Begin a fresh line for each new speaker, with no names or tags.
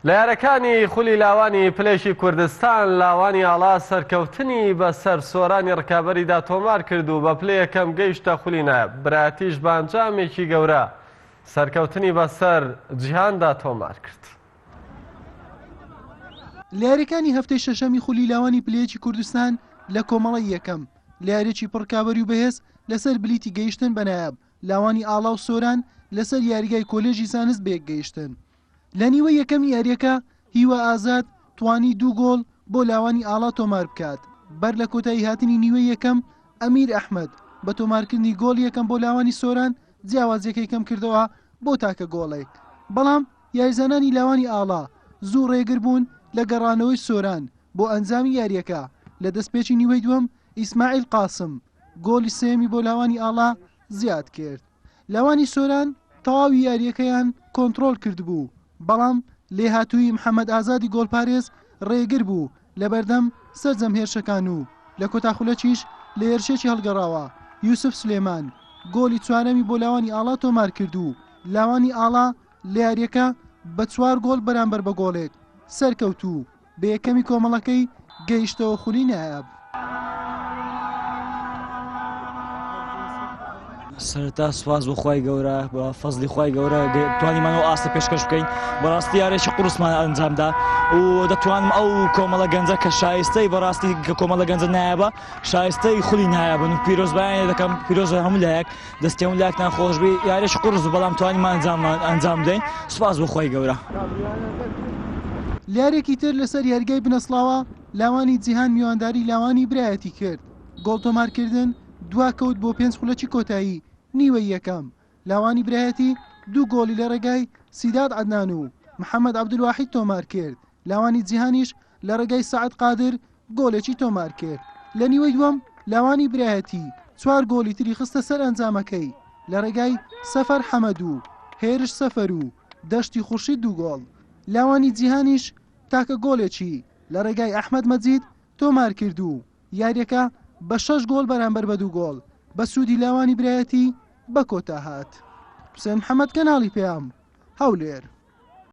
لە یارەکانی خولی لاوانی پلێکی کوردستان، لاوانی ئاڵا سەرکەوتنی بەسەر سۆرانی رکابەریدا تۆمار کرد و بە پلە یەکەم گەیشتە خولی نایاب، برایەتیش بە ئەنجامێکی گەورە سەرکەوتنی بەسەر جیهاندا تۆمار کرد.
لە یاریەکانی هەفتەی شەشەمی خولی لاوانی پلە یەکی کوردستان لە کۆمەڵەی یەکەم، لە یاریێکی پڕ رکابەری و بەهێز لەسەر بلیتی گەیشتن بە نایاب، لاوانی ئاڵا و سۆران لەسەر یاریگای کۆلێژی زانست بەیەکگەیشتن. لە نیوەی یەکەمی یارییەکە هیوا ئازاد توانی دوو گۆڵ بۆ لاوانی ئاڵا تۆمار بکات، بەر لە کۆتاییهاتنی نیوەی یەکەم ئەمیر ئەحمەد بە تۆمارکردنی گۆڵی یەکەم بۆ لاوانی سۆران جیاوازییەکەی کەمکردەوە بۆ تاکە گۆڵێک، بەڵام یاریزانانی لاوانی ئاڵا زوو ڕێگر بوون لە گەڕانەوەی سۆران بۆ ئەنجامی یارییەکە، لە دەستپێکی نیوەی دووەم ئیسماعیل قاسم گۆڵی سێیەمی بۆ لاوانی ئاڵا زیادکرد. لاوانی سۆران تەواوی یارییەکەیان کۆنتڕۆڵ کردبوو، بەڵام لێهاتوویی محەمەد ئازادی گۆڵپارێز رێگر بوو لەبەردەم سەرجەم هێرشەکان و لە کۆتا خولەکیش لە هێرشێکی هەڵگەڕاوە یوسف سلێمان گۆڵی چوارەمی بۆ لاوانی ئاڵا تۆمارکرد و لاوانی ئاڵا لە یارییەکە بە چوار گۆڵ بەرامبەر بە گۆڵێک سەرکەوتوو بە یەکەمی کۆمەڵەکەی گەیشتەوە خولی نایاب.
سەرەتا سوپاس بۆ خوای گەورە بە فەزلی خوای گەورە توانیمانەوە ئاستە پێشکەش بکەین بەڕاستی یارێکی قرسمان ئەنجامدا و دەتوانم ئەو کۆمەڵە گەنجە کە شایستەی بەڕاستی کە کۆمەڵە گەنجە نایابە شایستەی خولی نایابن و پیرۆزبیان دەکەم پیرۆزە هەموو لایەک دەستی هەموو لایەکتان خۆش بی یارش قورس بەڵام توانیمان ئەنجاممان ئەنجام بدەین سوپاس بۆ خۆی گەورە.
لیارێکی تر لەسەر یاریگای بنەسڵاوە لاوانی جیهان میوانداری لاوانی برایەتی کرد گۆڵ تۆمارکردن دوا کەوت بۆ پێنج خولەکی کۆتایی نیوەی یەکەم لاوانی برایەتی دوو گۆڵی لە ڕێگای سیداد عەدنان و محەمەد عەبدولواحید تۆمارکرد لاوانی جیهانیش لە ڕێگای سەعد قادر گۆڵێکی تۆمار کرد لە نیوەی دووەم لاوانی برایەتی چوار گۆڵی تری خستە سەر ئەنجامەکەی لە ڕێگای سەفەر حەمەدو هێرش سەفەرو دەشتی خوشی دوو گۆڵ لاوانی جیهانیش تاکە گۆلێکی لە ڕێگای ئەحمد مەجید تۆمار کرد و یاریەکە بە شەش گۆل بەرامبەر بە دوو گۆل بە سوودی لاوانی برایەتی بە کۆتا هات حسێن حەمەد کەناڵی پێیام هەولێر